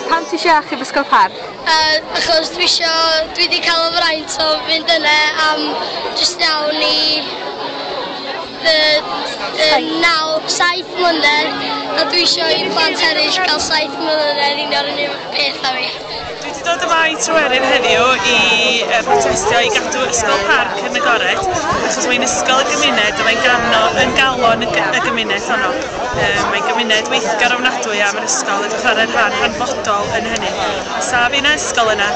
Pam ti eisiau achub Ysgol Parc? Yy achos dwi isio, dwi 'di cael y fraint o fynd yna am jyst iawn i fy yy naw, saith mlynedd a dwi isio i plant eraill gael saith mlynedd union yr un peth â fi. Dwi wedi dod yma i Tryweryn heddiw i brotestio i gadw Ysgol Parc yn agored achos mae'n ysgol y gymuned a mae'n gano yn galon y gymuned honno. Mae'n gymuned weithgar ofnadwy a mae'n ysgol yn chwarae rhan hanfodol yn hynny. Sa fi na ysgol yna,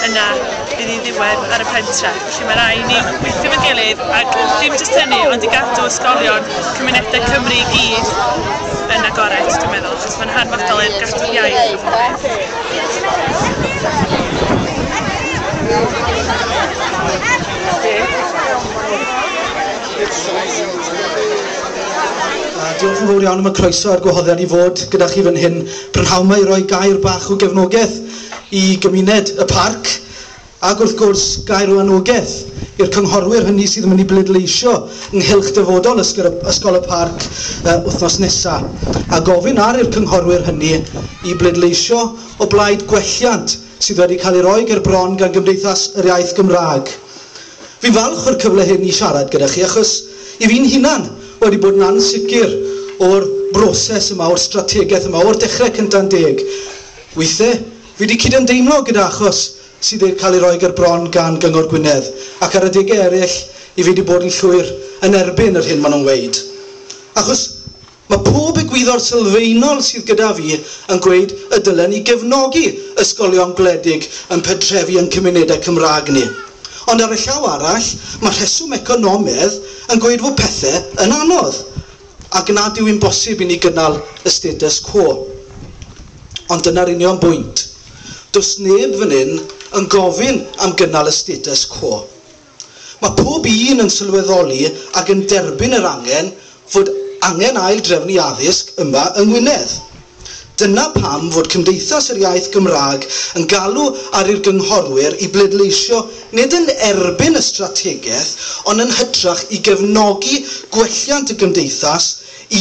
yna bydd hi'n ddiwedd ar y pentre. Felly mae rai ni weithio efo'n gilydd ac dim jyst hynny ond i gadw ysgolion cymunedau Cymru i gyd yn agored dwi'n meddwl achos mae'n hanfodol i'r gadw'r iaith a popeth. Diolch yn fawr iawn am y croeso a'r gwahoddiad i fod gyda chi fan hyn prynhawn 'ma i roi gair bach o gefnogaeth i gymuned y parc. Ac wrth gwrs, gair o anogaeth i'r cynghorwyr hynny sydd yn mynd i bleidleisio ynghylch dyfodol Ysgol y Parc wythnos nesaf, a gofyn ar i'r cynghorwyr hynny i bleidleisio o blaid gwelliant sydd wedi cael ei roi ger bron gan Gymdeithas yr Iaith Gymraeg. Fi'n falch o'r cyfle hyn i siarad gyda chi achos i fi'n hunan wedi bod yn ansicr o'r broses yma, o'r strategaeth yma, o'r dechrau cynta'n deg. Weithe, Fi 'di cydymdeimlo gyda achos sydd i'r cael ei roi ger bron gan Gyngor Gwynedd, ac ar adegau eraill i fi 'di bod yn llwyr yn erbyn yr hyn maen nhw'n weud. Achos mae pob egwyddor sylfaenol sydd gyda fi yn gweud y dylen ni gefnogi ysgolion gwledig yn pentrefi yn cymunedau Cymraeg ni. Ond ar y llaw arall, mae rheswm economedd yn gweud fod pethe yn anodd. ac nad yw'n bosib i ni gynnal y status quo. Ond dyna'r union bwynt. Does neb fan hyn yn gofyn am gynnal y status quo. Mae pob un yn sylweddoli ac yn derbyn yr angen fod angen ail-drefnu addysg yma yng Ngwynedd. Dyna pam fod Cymdeithas yr Iaith Gymraeg yn galw ar i'r gynghorwyr i bleidleisio nid yn erbyn y strategaeth ond yn hytrach i gefnogi gwelliant y Gymdeithas,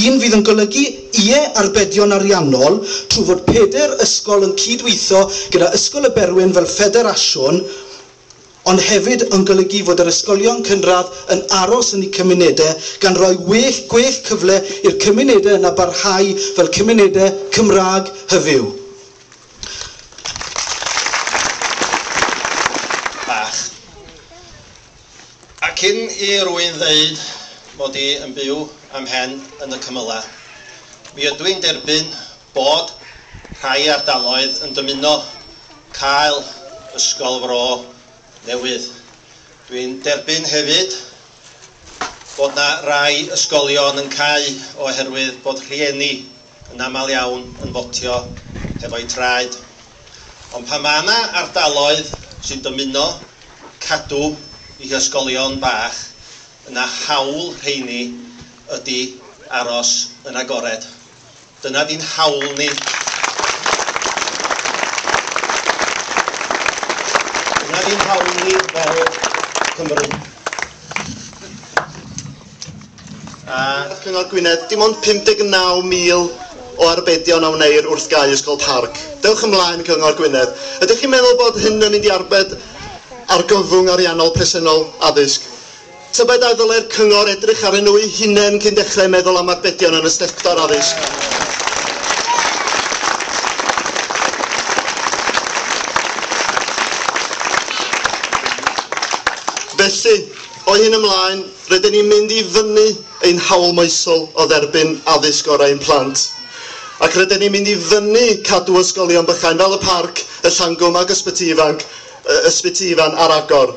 un fydd yn golygu ie arbedion ariannol trwy fod pedair ysgol yn cyd-weithio gyda Ysgol y Berwyn fel ffederasiwn, ond hefyd yn golygu fod yr ysgolion cynradd yn aros yn eu cymunedau, gan roi well gwell cyfle i'r cymunedau yna barhau fel cymunedau Cymraeg hyfyw. Bach. A cyn i rwy'n ddeud mod i yn byw â'm mhen yn y cymylau, mi ydw i'n derbyn Bod rhai ardaloedd yn dymuno cael Ysgol Fro newydd. Dwi'n derbyn hefyd bod yna rai ysgolion yn cau oherwydd bod rhieni yn aml iawn yn fotio hefo'u traed. Ond pan mae yna ardaloedd sy'n dymuno cadw i hysgolion bach, yna hawl rheini ydi aros yn agored. Dyna di'n hawl ni. Dyna di'n hawl ni fel Cymru. A Cyngor Gwynedd, dim ond 59,000 o arbedion a wneir wrth gau Ysgol Parc. Dewch ymlaen, Cyngor Gwynedd. Ydych chi'n meddwl bod hyn yn mynd i arbed argyfwng ariannol presennol addysg? Tybed a ddylai'r cyngor edrych arnyn nhw'u hunain cyn dechrau meddwl am arbedion yn y sector addysg? Felly, o hyn ymlaen, rydyn ni'n mynd i fynnu ein hawl moesol o dderbyn addysg gorau i'n plant. Ac rydyn ni'n mynd i fynnu cadw ysgolion bychain fel y Parc, y Llangwm ac Ysbyty Ifanc, Ysbyty Ifan ar agor.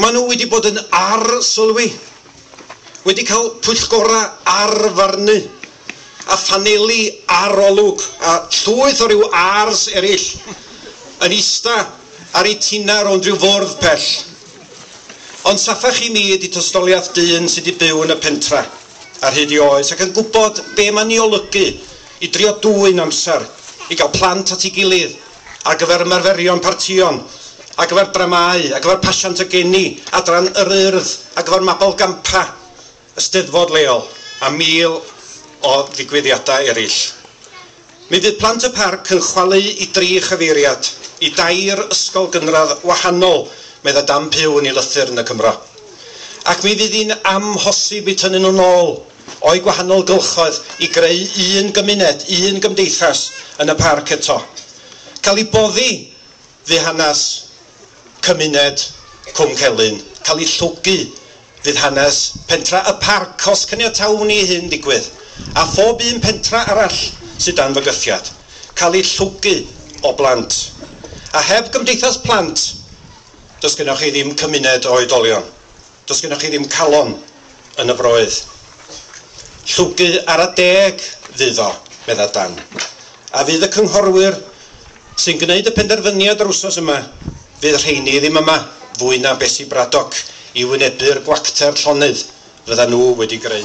Maen nhw wedi bod yn arsylwi, wedi cael pwyllgorau arfarnu a phaneli arolwg a llwyth o ryw ars eraill yn ista ar eu tinau rownd ryw fwrdd pell. Ond saffach i mi ydi tostoliath dyn sy' 'di byw yn y pentra ar hyd ei oes ac yn gwybod be' ma'n 'i olygu i drio dwyn amser i gael plant at ei gilydd, ar gyfer ymarferion partïon, ar gyfer dramâu, ar gyfer pasiant a geni, Adran yr Urdd, ar gyfer mabolgampfa, y Steddfod leol a mil o ddigwyddiadau eraill. Mi fydd plant y parc yn chwalu i dri chyfeiriad i dair ysgol gynradd wahanol, meddai Dan Pugh yn ei lythyr yn y Cymro. Ac mi fydd hi'n amhosib eu tynnu nhw'n ôl. o'i gwahanol gylchoedd i greu un gymuned, un gymdeithas yn y parc eto. Cael ei boddi fu hanes cymuned Cwm Celyn, cael ei llwgu fydd hanes pentra Y Parc os caniatawn i i hyn ddigwydd, a phob un pentra arall sydd dan fygythiad, cael ei llwgu o blant. A heb gymdeithas plant, does gennoch chi ddim cymuned o oedolion. Does gennoch chi ddim calon yn y froedd. Llwgu ar y deg fydd o, medda Dan. A fydd y cynghorwyr sy'n gwneud y penderfyniad yr wsos yma, fydd rheini ddim yma fwy na Bessie Braddock i wynebu'r gwacter llonydd fyddan nhw wedi greu.